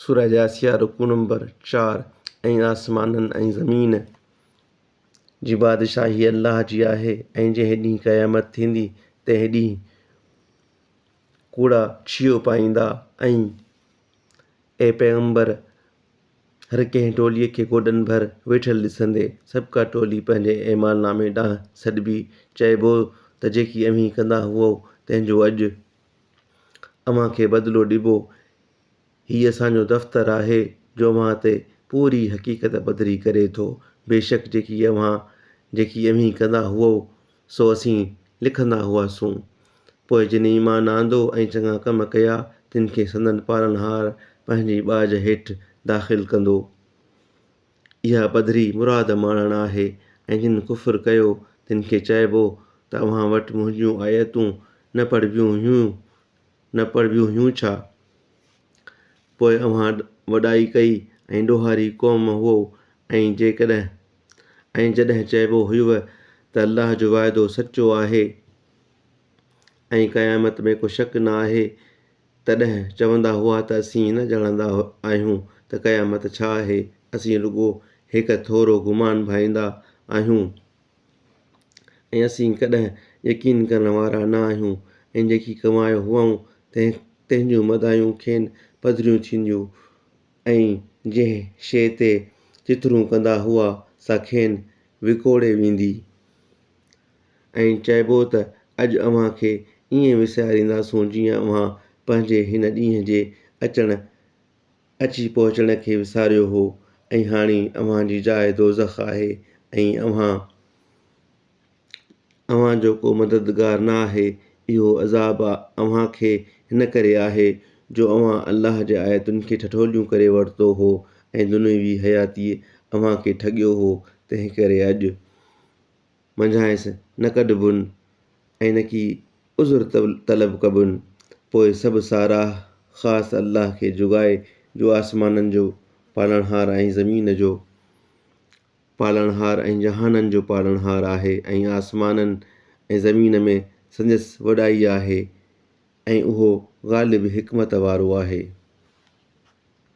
سوره جاثيه رڪوع نمبر چار، ۽ آسمانن ۽ زمين جي بادشاهي الله جي آهي ۽ جنهن ڏينهن قيامت ٿيندي تنهن ڏينهن ڪوڙا ڇيهو پائيندا ۽ اي پيغمبر هر ڪنهن ٽوليء کي گوڏن ڀر ويٺل ڏسندي سڀ ڪا ٽولي پنهنجي اعمال نامي ڏانهن سڏبي چئبو ته جيڪي اوهين ڪندا هئو تنهن جو اڄ اوهان کي بدلو ڏبو. هي اسان جو دفتر آهي جو اوهان تي پوري حقيقت پڌري ڪري ٿو. بيشڪ جيڪي اوهان، جيڪي اوهين ڪندا هئؤ، سو اسين لکندا هئاسون. پوء جن ايمان آندو ۽ چڱا ڪم ڪيا، تن کي سندن پالڻهار پنهنجي ٻاجهه هيٺ داخل ڪندو. اها پڌري مراد ماڻڻ آهي ۽ جن ڪفر ڪيو تن کي چئبو ته اوهان وٽ منهنجون آيتون نه پڙهبيون هيون نه پڙهبيون هيون ڇا؟ پوء اوهان وڏائي ڪئي ۽ ڏوهاري قوم هئو ۽ جيڪڏهن ۽ جڏهن چئبو هيوء ته الله جو وعدو سچو آهي ۽ قيامت ۾ ڪو شڪ نه آهي، تڏهن چوندا هئا ته اسين نه ڄاڻندا آهيون ته قيامت ڇا آهي، اسين رڳو هڪ ٿورو گمان ڀائيندا آهيون ۽ اسين ڪڏهن يقين ڪرڻ وارا نه آهيون ۽ جيڪي ڪمايو هئائون تنهن جون مدايون کين پڌريون ٿينديون ۽ جنهن شيء تي چٿرون ڪندا هئا سا کين وڪوڙي ويندي ائين چئبو ته اڄ اوهان کي ائين وسارينداسون جيئن اوهان پنهنجي هن ڏينهن جي اچڻ اچي پهچڻ کي وساريو هو ۽ هاڻي اوهان جي جاء دوزخ آهي ۽ اوهان اوهان جو ڪو مددگار نه آهي اهو عذاب اوهان کي هن ڪري آهي جو اوهان الله جي آيتن کي ٺٺوليون ڪري ورتو هو ۽ دنيوي حياتيء اوهان کي ٺڳيو هو تنهنڪري اڄ منجهانئس نه ڪڍبون ۽ نه ڪي عذر طلب ڪبون، پوء سڀ ساراهه خاص الله کي جوڳائي جو آسمانن جو پالڻهار ۽ زمين جو پالڻهار ۽ جهانن جو پالڻهار آهي ۽ آسمانن ۽ زمين ۾ سندس وڏائي آهي ۽ اهو غالب حڪمت وارو آهي.